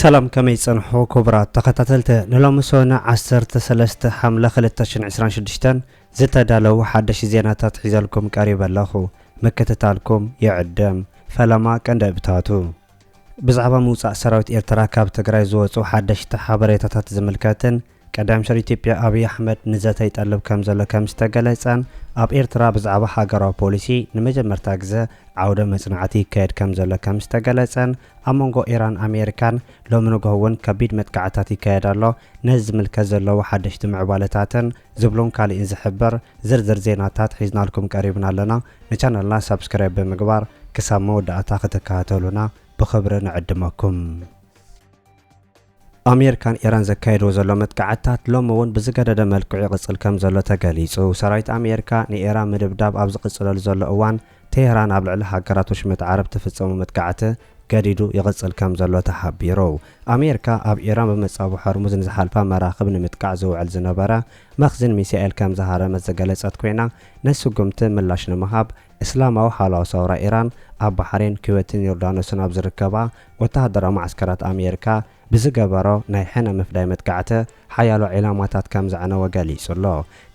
ሰላም ከመይ ጸንሑ ክቡራት ተኸታተልቲ ንሎሚ ሰነ ዓሰርተ ሰለስተ ሓምለ ክልተ ሽሕን ዕስራን ሽዱሽተን ዝተዳለዉ ሓደሽ ዜናታት ሒዘልኩም ቀሪበ ኣለኹ ምክትታልኩም ይዕድም ፈለማ ቀንዲ እብታቱ ብዛዕባ ምውጻእ ሰራዊት ኤርትራ ካብ ትግራይ ዝወጹ ሓደሽቲ ሓበሬታታት ዝምልከትን ቀዳማይ ሚኒስተር ኢትዮጵያ ኣብይ ኣሕመድ ንዘተ ይጠልብ ከምዘሎ ከምዝተገለጸን ኣብ ኤርትራ ብዛዕባ ሃገራዊ ፖሊሲ ንመጀመርታ ግዘ ዓውደ መጽናዕቲ ይካየድ ከምዘሎ ከምዝተገለጸን ኣብ መንጎ ኢራን ኣሜሪካን ሎሚ ንግሆ እውን ከቢድ መጥቃዕትታት ይካየድ ኣሎ ነዚ ዝምልከት ዘለዉ ሓደሽቲ ምዕባለታትን ዝብሉን ካሊእን ዝሕብር ዝርዝር ዜናታት ሒዝናልኩም ቀሪብና ኣለና ንቻነልና ሳብስክራይብ ብምግባር ክሳብ መወዳእታ ክትከታተሉና ብኽብሪ ንዕድመኩም። ኣሜሪካ ን ኢራን ዘካይድዎ ዘሎ መጥቃዕትታት ሎሚ እውን ብዝገደደ መልክዑ ይቕጽል ከም ዘሎ ተገሊጹ። ሰራዊት ኣሜሪካ ንኢራን ምድብዳብ ኣብ ዝቕጽለሉ ዘሎ እዋን፣ ቴህራን ኣብ ልዕሊ ሃገራት ወሽመጥ ዓረብ ትፍጽሞ መጥቃዕቲ ገዲዱ ይቕጽል ከም ዘሎ ተሓቢሩ። ኣሜሪካ ኣብ ኢራን ብመጻብቦ ሆርሙዝ ንዝሓልፋ መራኽብ ንምጥቃዕ ዝውዕል ዝነበረ መኽዝን ሚሳኤል ከም ዝሃረመት ዝገለጸት ኮይና፣ ንስጉምቲ ምላሽ ንምሃብ እስላማዊ ሓለዋ ሰውራ ኢራን ኣብ ባሕሬን፣ ኩዌትን ዮርዳኖስን ኣብ ዝርከባ ወተሃደራዊ መዓስከራት ኣሜሪካ ብዝገበሮ ናይ ሕነ ምፍዳይ መጥቃዕቲ ሓያሎ ዒላማታት ከም ዘዕነወ ገሊጹ ኣሎ።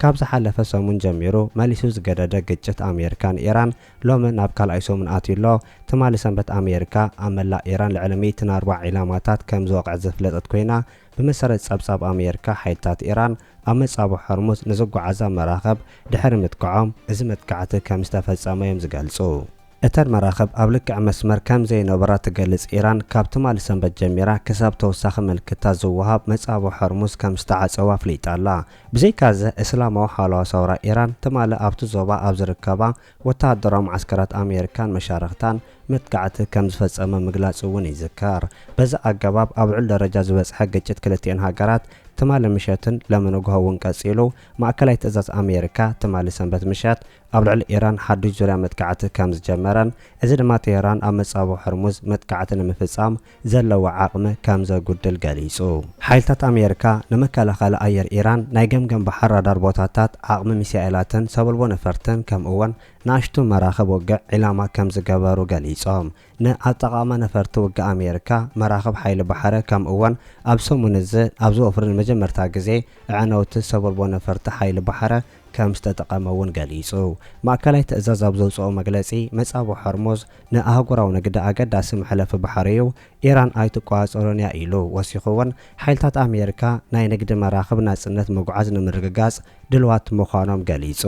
ካብ ዝሓለፈ ሰሙን ጀሚሩ መሊሱ ዝገደደ ግጭት ኣሜሪካ ንኢራን ሎሚ ናብ ካልኣይ ሰሙን ኣትዩ ኣሎ። ትማሊ ሰንበት ኣሜሪካ ኣብ መላእ ኢራን ልዕሊ ሚእቲ ናርባ ዒላማታት ከም ዝወቕዐት ዘፍለጠት ኮይና ብመሰረት ጸብጻብ ኣሜሪካ ሓይልታት ኢራን ኣብ መጻብቦ ሆርሙዝ ንዝጓዓዛ መራኽብ ድሕሪ ምጥቃዖም እዚ መጥቃዕቲ ከም ዝተፈጸመ'ዮም ዝገልጹ። እተን መራኽብ ኣብ ልክዕ መስመር ከም ዘይነበራ ትገልጽ ኢራን፣ ካብ ትማሊ ሰንበት ጀሚራ ክሳብ ተወሳኺ ምልክታ ዝወሃብ መጻብቦ ሖርሙዝ ከም ዝተዓጸወ ኣፍሊጣ ኣላ። ብዘይካ'ዚ እስላማዊ ሓለዋ ሰውራ ኢራን ትማሊ ኣብቲ ዞባ ኣብ ዝርከባ ወተሃደራዊ መዓስከራት ኣሜሪካን መሻርኽታን መጥቃዕቲ ከም ዝፈጸመ ምግላጹ እውን ይዝከር። በዚ ኣገባብ ኣብ ልዑል ደረጃ ዝበጽሐ ግጭት ክልቲኤን ሃገራት ትማሊ ምሸትን ሎሚ ንግሆ እውን ቀጺሉ፣ ማእከላይ ትእዛዝ ኣሜሪካ ትማሊ ሰንበት ምሸት ኣብ ልዕሊ ኢራን ሓዱሽ ዙርያ መጥቃዕቲ ከም ዝጀመረን እዚ ድማ ቴህራን ኣብ መጻብቦ ሆርሙዝ መጥቃዕቲ ንምፍጻም ዘለዋ ዓቕሚ ከም ዘጉድል ገሊጹ። ሓይልታት ኣሜሪካ ንመከላኸሊ ኣየር ኢራን፣ ናይ ገምገም ባሕር ራዳር ቦታታት፣ ዓቕሚ ሚሳኤላትን ሰበልቦ ነፈርትን ከምኡ'ውን ንኣሽቱ መራኽብ ውግዕ ዒላማ ከም ዝገበሩ ገሊጾም። ንኣጠቓቕማ ነፈርቲ ውግእ ኣሜሪካ፣ መራኽብ ሓይሊ ባሕሪ ከምኡ'ውን ኣብ ሰሙን'ዚ ኣብ ዝወፍሩ ንመጀመርታ ግዜ ኣዕነውቲ ሰበልቦ ነፈርቲ ሓይሊ ባሕሪ ከምዝተጠቐመ'ውን ገሊጹ። ማእከላይ ትእዛዝ ኣብ ዘውጽኦ መግለጺ፣ መጻብቦ ሆርሙዝ ንኣህጉራዊ ንግዲ ኣገዳሲ መሕለፊ ባሕሪ'ዩ፣ ኢራን ኣይትቆጻጸሮን'ያ ኢሉ። ወሲኹ'ውን፣ ሓይልታት ኣሜሪካ ናይ ንግዲ መራኽብ ናጽነት ምጉዓዝ ንምርግጋጽ ድልዋት ምዃኖም ገሊጹ።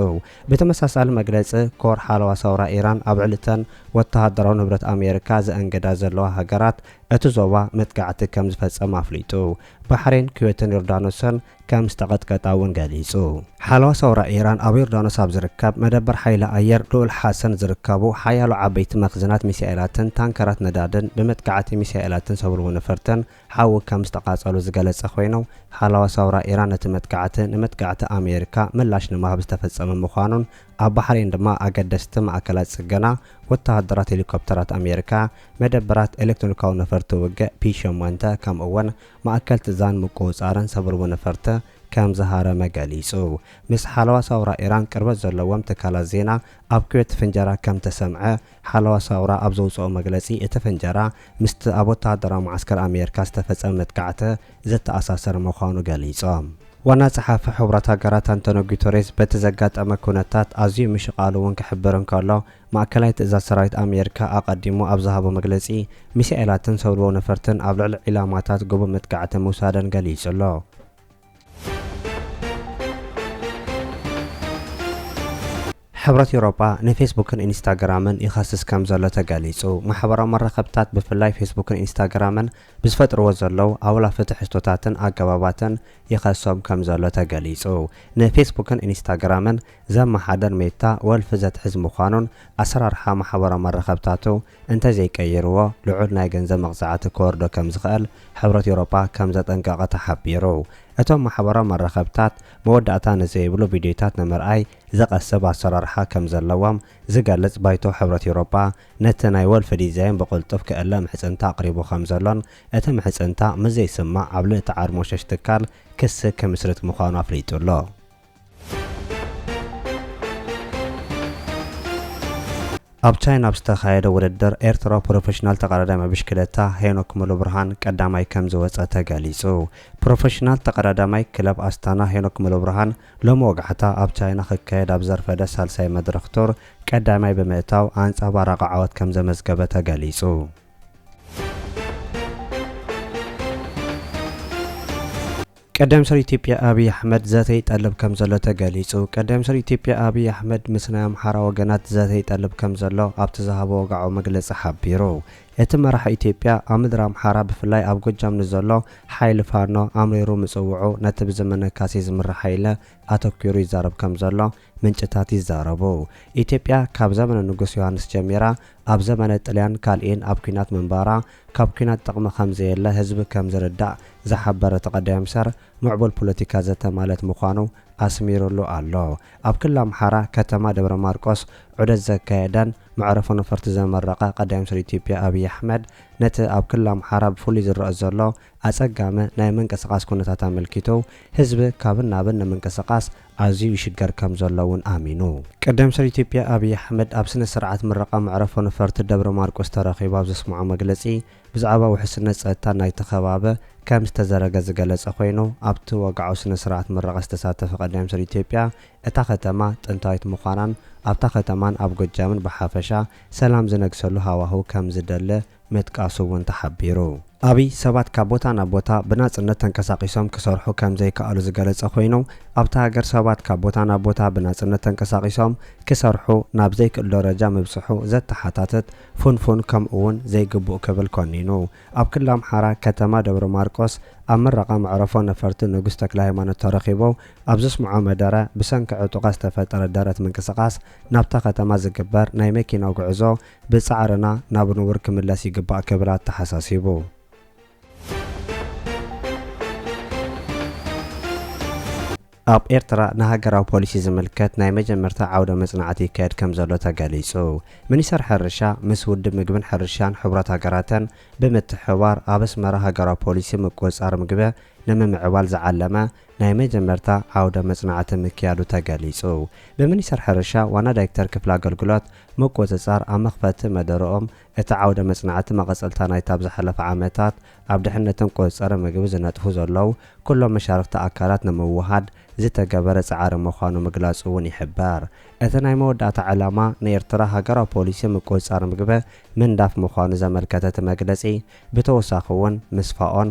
ብተመሳሳሊ መግለጺ፣ ኮር ሓለዋ ሰውራ ኢራን ኣብ ልዕሊ'ተን ወተሃደራዊ ንብረት ኣሜሪካ ዘእንግዳ ዘለዋ ሃገራት እቲ ዞባ መጥቃዕቲ ከምዝፈጸመ ኣፍሊጡ። ባሕሬን፣ ኩዌትን ዮርዳኖስን ከም ዝተቐጥቀጠ እውን ገሊጹ። ሓለዋ ሰውራ ኢራን ኣብ ዮርዳኖስ ኣብ ዝርከብ መደበር ሓይሊ ኣየር ልኡል ሓሰን ዝርከቡ ሓያሎ ዓበይቲ መኽዝናት ሚሳኤላትን ታንከራት ነዳድን ብመጥቃዕቲ ሚሳኤላትን ሰብልዎ ነፈርትን ሓዊ ከም ዝተቓጸሉ ዝገለጸ ኮይኑ ሓለዋ ሰውራ ኢራን ነቲ መጥቃዕቲ ንመጥቃዕቲ ኣሜሪካ ምላሽ ንምሃብ ዝተፈጸመ ምዃኑን ኣብ ባሕሬን ድማ ኣገደስቲ ማእከላት ጽገና ወተሃደራት ሄሊኮፕተራት ኣሜሪካ መደበራት ኤሌክትሮኒካዊ ነፈርቲ ውግእ ፒ ሸሞንተ ከምኡ'ውን ማእከል ትዛን ምቁውጻርን ሰብርቡ ነፈርተ ከም ዝሃረመ ገሊጹ። ምስ ሓለዋ ሳውራ ኢራን ቅርበት ዘለዎም ትካላት ዜና፣ ኣብ ኩዌት ፍንጀራ ከም እተሰምዐ፣ ሓለዋ ሳውራ ኣብ ዘውጽኦ መግለጺ፣ እቲ ፍንጀራ ምስቲ ኣብ ወተሃደራዊ መዓስከር ኣሜርካ ዝተፈጸመ መጥቃዕተ ዝተኣሳሰር ምዃኑ ገሊጾም። ዋና ጸሓፊ ሕቡራት ሃገራት ኣንቶንዮ ጉተሬዝ በቲ ዘጋጠመ ኩነታት ኣዝዩ ምሽቓሉ'ውን ክሕብር እንከሎ፣ ማእከላይ ትእዛዝ ሰራዊት ኣሜሪካ ኣቐዲሙ ኣብ ዝሃቦ መግለጺ፣ ሚሳኤላትን ሰውለዎ ነፈርትን ኣብ ልዕሊ ዒላማታት ግቡእ መጥቃዕቲ ምውሳደን ገሊጹ'ሎ። ሕብረት ኤውሮጳ ንፌስቡክን ኢንስታግራምን ይኸስስ ከምዘሎ ተገሊጹ። ማሕበራዊ መራኸብታት ብፍላይ ፌስቡክን ኢንስታግራምን ብዝፈጥርዎ ዘለዉ ኣውላፊ ትሕዝቶታትን ኣገባባትን ይኸሶም ከምዘሎ ተገሊጹ። ንፌስቡክን ኢንስታግራምን ዘመሓደር ሜታ ወልፊ ዘትሕዝ ምዃኑን ኣሰራርሓ ማሕበራዊ መራኸብታቱ እንተዘይቀይርዎ ልዑል ናይ ገንዘብ መቕጻዕቲ ክወርዶ ከምዝኽእል ሕብረት ኤውሮጳ ከምዘጠንቀቐ ተሓቢሩ። እቶም ማሕበራዊ መራኸብታት መወዳእታ ንዘይብሉ ቪድዮታት ንምርኣይ ዘቐስብ ኣሰራርሓ ከምዘለዎም ዝገልጽ ባይቶ ሕብረት ኤውሮጳ ነቲ ናይ ወልፊ ዲዛይን ብቕልጡፍ ክእለ ምሕጽንታ ኣቕሪቡ ከምዘሎን እቲ ምሕጽንታ ምስዘይስማዕ ኣብ ልእቲ ዓርሞሸሽ ትካል ክሲ ክምስርት ምዃኑ ኣፍሊጡ'ሎ። ኣብ ቻይና ኣብ ዝተኻየደ ውድድር ኤርትራዊ ፕሮፌሽናል ተቐዳዳማይ ብሽክለታ ሄኖክ ሙሉብርሃን ቀዳማይ ከምዝወፀ ተገሊፁ። ፕሮፌሽናል ተቐዳዳማይ ክለብ ኣስታና ሄኖክ ሙሉብርሃን ሎሚ ወጋሕታ ኣብ ቻይና ክካየድ ኣብ ዘርፈደ ሳልሳይ መድረኽ ቱር ቀዳማይ ብምእታው ኣንፀባራቒ ዓወት ከምዘመዝገበ ተገሊፁ። ቀዳም ስር ኢትዮጵያ ኣብይ ኣሕመድ ዘተ ይጠልብ ከምዘሎ ተገሊጹ ቀዳም ስር ኢትዮጵያ ኣብይ ኣሕመድ ምስ ናይ ኣምሓራ ወገናት ዘተ ይጠልብ ከምዘሎ ኣብቲ ዝሃቦ ወግዓዊ መግለጺ ሓቢሩ። እቲ መራሒ ኢትዮጵያ ኣብ ምድሪ ኣምሓራ ብፍላይ ኣብ ጎጃም ንዘሎ ሓይሊ ፋኖ ኣምሪሩ ምጽውዑ ነቲ ብዘመነ ካሴ ዝምራሕ ሓይለ ኣተኲሩ ይዛረብ ከምዘሎ ምንጭታት ይዛረቡ። ኢትዮጵያ ካብ ዘመነ ንጉስ ዮሃንስ ጀሚራ ኣብ ዘመነ ጥልያን ካልእን ኣብ ኲናት ምንባራ ካብ ኲናት ጥቕሚ ከምዘየለ ህዝቢ ከምዝርዳእ ዝሓበረ ተቀዳይ ምሰር ምዕቡል ፖለቲካ ዘተ ማለት ምዃኑ ኣስሚሩሉ ኣሎ። ኣብ ክልል ኣምሓራ ከተማ ደብረ ማርቆስ ዑደት ዘካየደን መዕረፎ ነፈርቲ ዘመረቐ ቀዳይ ምሰር ኢትዮጵያ ኣብይ ኣሕመድ ነቲ ኣብ ክልል ኣምሓራ ብፍሉይ ዝረኣ ዘሎ ኣፀጋሚ ናይ ምንቅስቓስ ኩነታት ኣመልኪቱ ህዝቢ ካብን ናብን ንምንቅስቓስ ኣዝዩ ይሽገር ከም ዘሎ እውን ኣሚኑ። ቀዳም ሰር ኢትዮጵያ ኣብይ ኣሕመድ ኣብ ስነ ስርዓት ምረቓ መዕረፎ ነፈርቲ ደብረ ማርቆስ ተረኺቡ ኣብ ዘስምዖ መግለጺ ብዛዕባ ውሕስነት ጸጥታ ናይቲ ከባበ ከም ዝተዘረገ ዝገለጸ ኮይኑ ኣብቲ ወግዓዊ ስነ ስርዓት ምረቓ ዝተሳተፈ ቀዳም ሰር ኢትዮጵያ እታ ከተማ ጥንታዊት ምዃናን ኣብታ ከተማን ኣብ ጎጃምን ብሓፈሻ ሰላም ዝነግሰሉ ሃዋህው ከም ዝደለ ምጥቃሱ እውን ተሓቢሩ። ኣብይ ሰባት ካብ ቦታ ናብ ቦታ ብናፅነት ተንቀሳቒሶም ክሰርሑ ከም ዘይከኣሉ ዝገለፀ ኮይኑ፣ ኣብታ ሃገር ሰባት ካብ ቦታ ናብ ቦታ ብናፅነት ተንቀሳቒሶም ክሰርሑ ናብ ዘይክእሉ ደረጃ ምብፅሑ ዘተሓታትት ፍንፉን ከምኡ እውን ዘይግቡእ ክብል ኮኒኑ። ኣብ ክልል ኣምሓራ ከተማ ደብረማርቆስ ኣብ ምረቓ መዕረፎ ነፈርቲ ንጉስ ተክለሃይማኖት ተረኺቡ ኣብ ዘስምዖ መደረ ብሰንኪ ዕጡቓት ዝተፈጠረ ደረት ምንቅስቓስ ናብታ ከተማ ዝግበር ናይ መኪና ጉዕዞ ብጻዕርና ናብ ንቡር ክምለስ ይግባእ ክብል ኣተሓሳሲቡ። ኣብ ኤርትራ ንሃገራዊ ፖሊሲ ዝምልከት ናይ መጀመርታ ዓውደ መጽናዕቲ ይካየድ ከምዘሎ ተገሊጹ። ሚኒስተር ሕርሻ ምስ ውድብ ምግብን ሕርሻን ሕቡራት ሃገራትን ብምትሕብባር ኣብ ኣስመራ ሃገራዊ ፖሊሲ ምቁጽጻር ምግበ ንምምዕባል ዝዓለመ ናይ መጀመርታ ዓውደ መጽናዕቲ ምክያዱ ተገሊጹ። ብሚኒስተር ሕርሻ ዋና ዳይክተር ክፍሊ ኣገልግሎት ምቁጽጻር ኣብ መኽፈቲ መደረኦም፣ እቲ ዓውደ መጽናዕቲ መቐጸልታ ናይቲ ኣብ ዝሓለፈ ዓመታት ኣብ ድሕነትን ቁጽጽርን ምግቢ ዝነጥፉ ዘለዉ ኩሎም መሻርኽቲ ኣካላት ንምውሃድ ዝተገበረ ጻዕሪ ምዃኑ ምግላጹ'ውን ይሕበር። እቲ ናይ መወዳእታ ዕላማ ንኤርትራ ሃገራዊ ፖሊሲ ምቁጽጻር ምግበ ምንዳፍ ምዃኑ ዘመልከተ እቲ መግለጺ ብተወሳኺ'ውን ምስ ፋኦን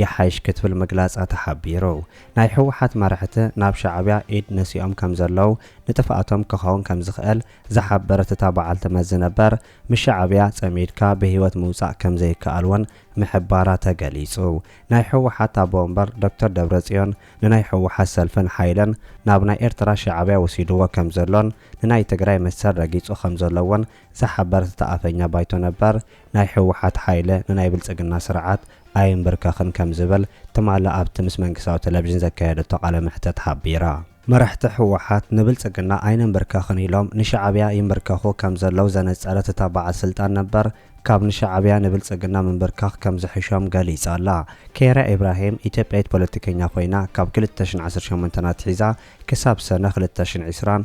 ይሓይሽ ክትብል ምግላጻ ተሓቢሩ። ናይ ህወሓት መራሕቲ ናብ ሻዕብያ ኢድ ነሲኦም ከምዘለዉ ንጥፍኣቶም ክኸውን ከምዝኽእል ዝሓበረት እታ በዓልቲ መዚ ነበር ምስ ሻዕብያ ጸሚድካ ብህይወት ምውጻእ ከምዘይከኣል እውን ምሕባራ ተገሊጹ። ናይ ህወሓት ኣቦ ወንበር ዶክተር ደብረጽዮን ንናይ ህወሓት ሰልፍን ሓይልን ናብ ናይ ኤርትራ ሻዕብያ ወሲድዎ ከምዘሎን ንናይ ትግራይ መሰል ረጊጹ ከምዘሎ እውን እዛ ሓበረተታ ኣፈኛ ባይቶ ነበር ናይ ህወሓት ሓይለ ንናይ ብልፅግና ስርዓት ኣይምብርከኽን ከምዝበል ትማሊ ኣብቲ ምስ መንግስታዊ ተለቪዥን ዘካየደቶ ቃለ መሕተት ሓቢራ። መራሕቲ ህወሓት ንብልፅግና ኣይንምብርከኽን ኢሎም ንሻዕብያ ይምብርከኹ ከምዘለው ዘነፀረት እታ በዓል ስልጣን ነበር ካብ ንሻዕብያ ንብልፅግና ምምብርካኽ ከምዝሕሾም ገሊፃ'ላ። ኬይራ ኢብራሂም ኢትዮጵያዊት ፖለቲከኛ ኮይና ካብ ክልተ ሽሕን ዓሰርተ ሸሞንተን ኣትሒዛ ክሳብ ሰነ ክልተ ሽሕን ዕስራን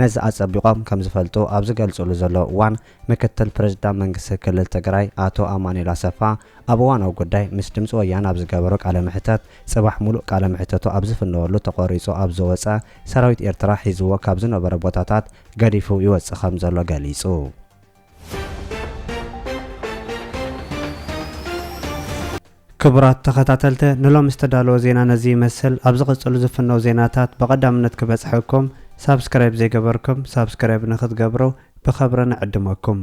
ነዚ ኣፀቢቖም ከምዝፈልጡ ኣብ ዝገልፅሉ ዘለዉ እዋን ምክትል ፕሬዝዳንት መንግስቲ ክልል ትግራይ ኣቶ ኣማኑኤል ኣሰፋ ኣብ እዋናዊ ጉዳይ ምስ ድምፂ ወያነ ኣብ ዝገበሮ ቃለ መሕተት ፅባሕ ሙሉእ ቃለ መሕተቱ ኣብ ዝፍነወሉ ተቖሪፁ ኣብ ዝወፀ ሰራዊት ኤርትራ ሒዝዎ ካብ ዝነበረ ቦታታት ገዲፉ ይወፅእ ከምዘሎ ገሊፁ። ክቡራት ተኸታተልተ ንሎሚ ዝተዳለወ ዜና ነዚ ይመስል ኣብ ዝቕጽሉ ዝፍነው ዜናታት ብቐዳምነት ክበጽሐኩም ሳብስክራይብ ዘይገበርኩም ሳብስክራይብ ንኽትገብሩ ብኸብሪ ንዕድመኩም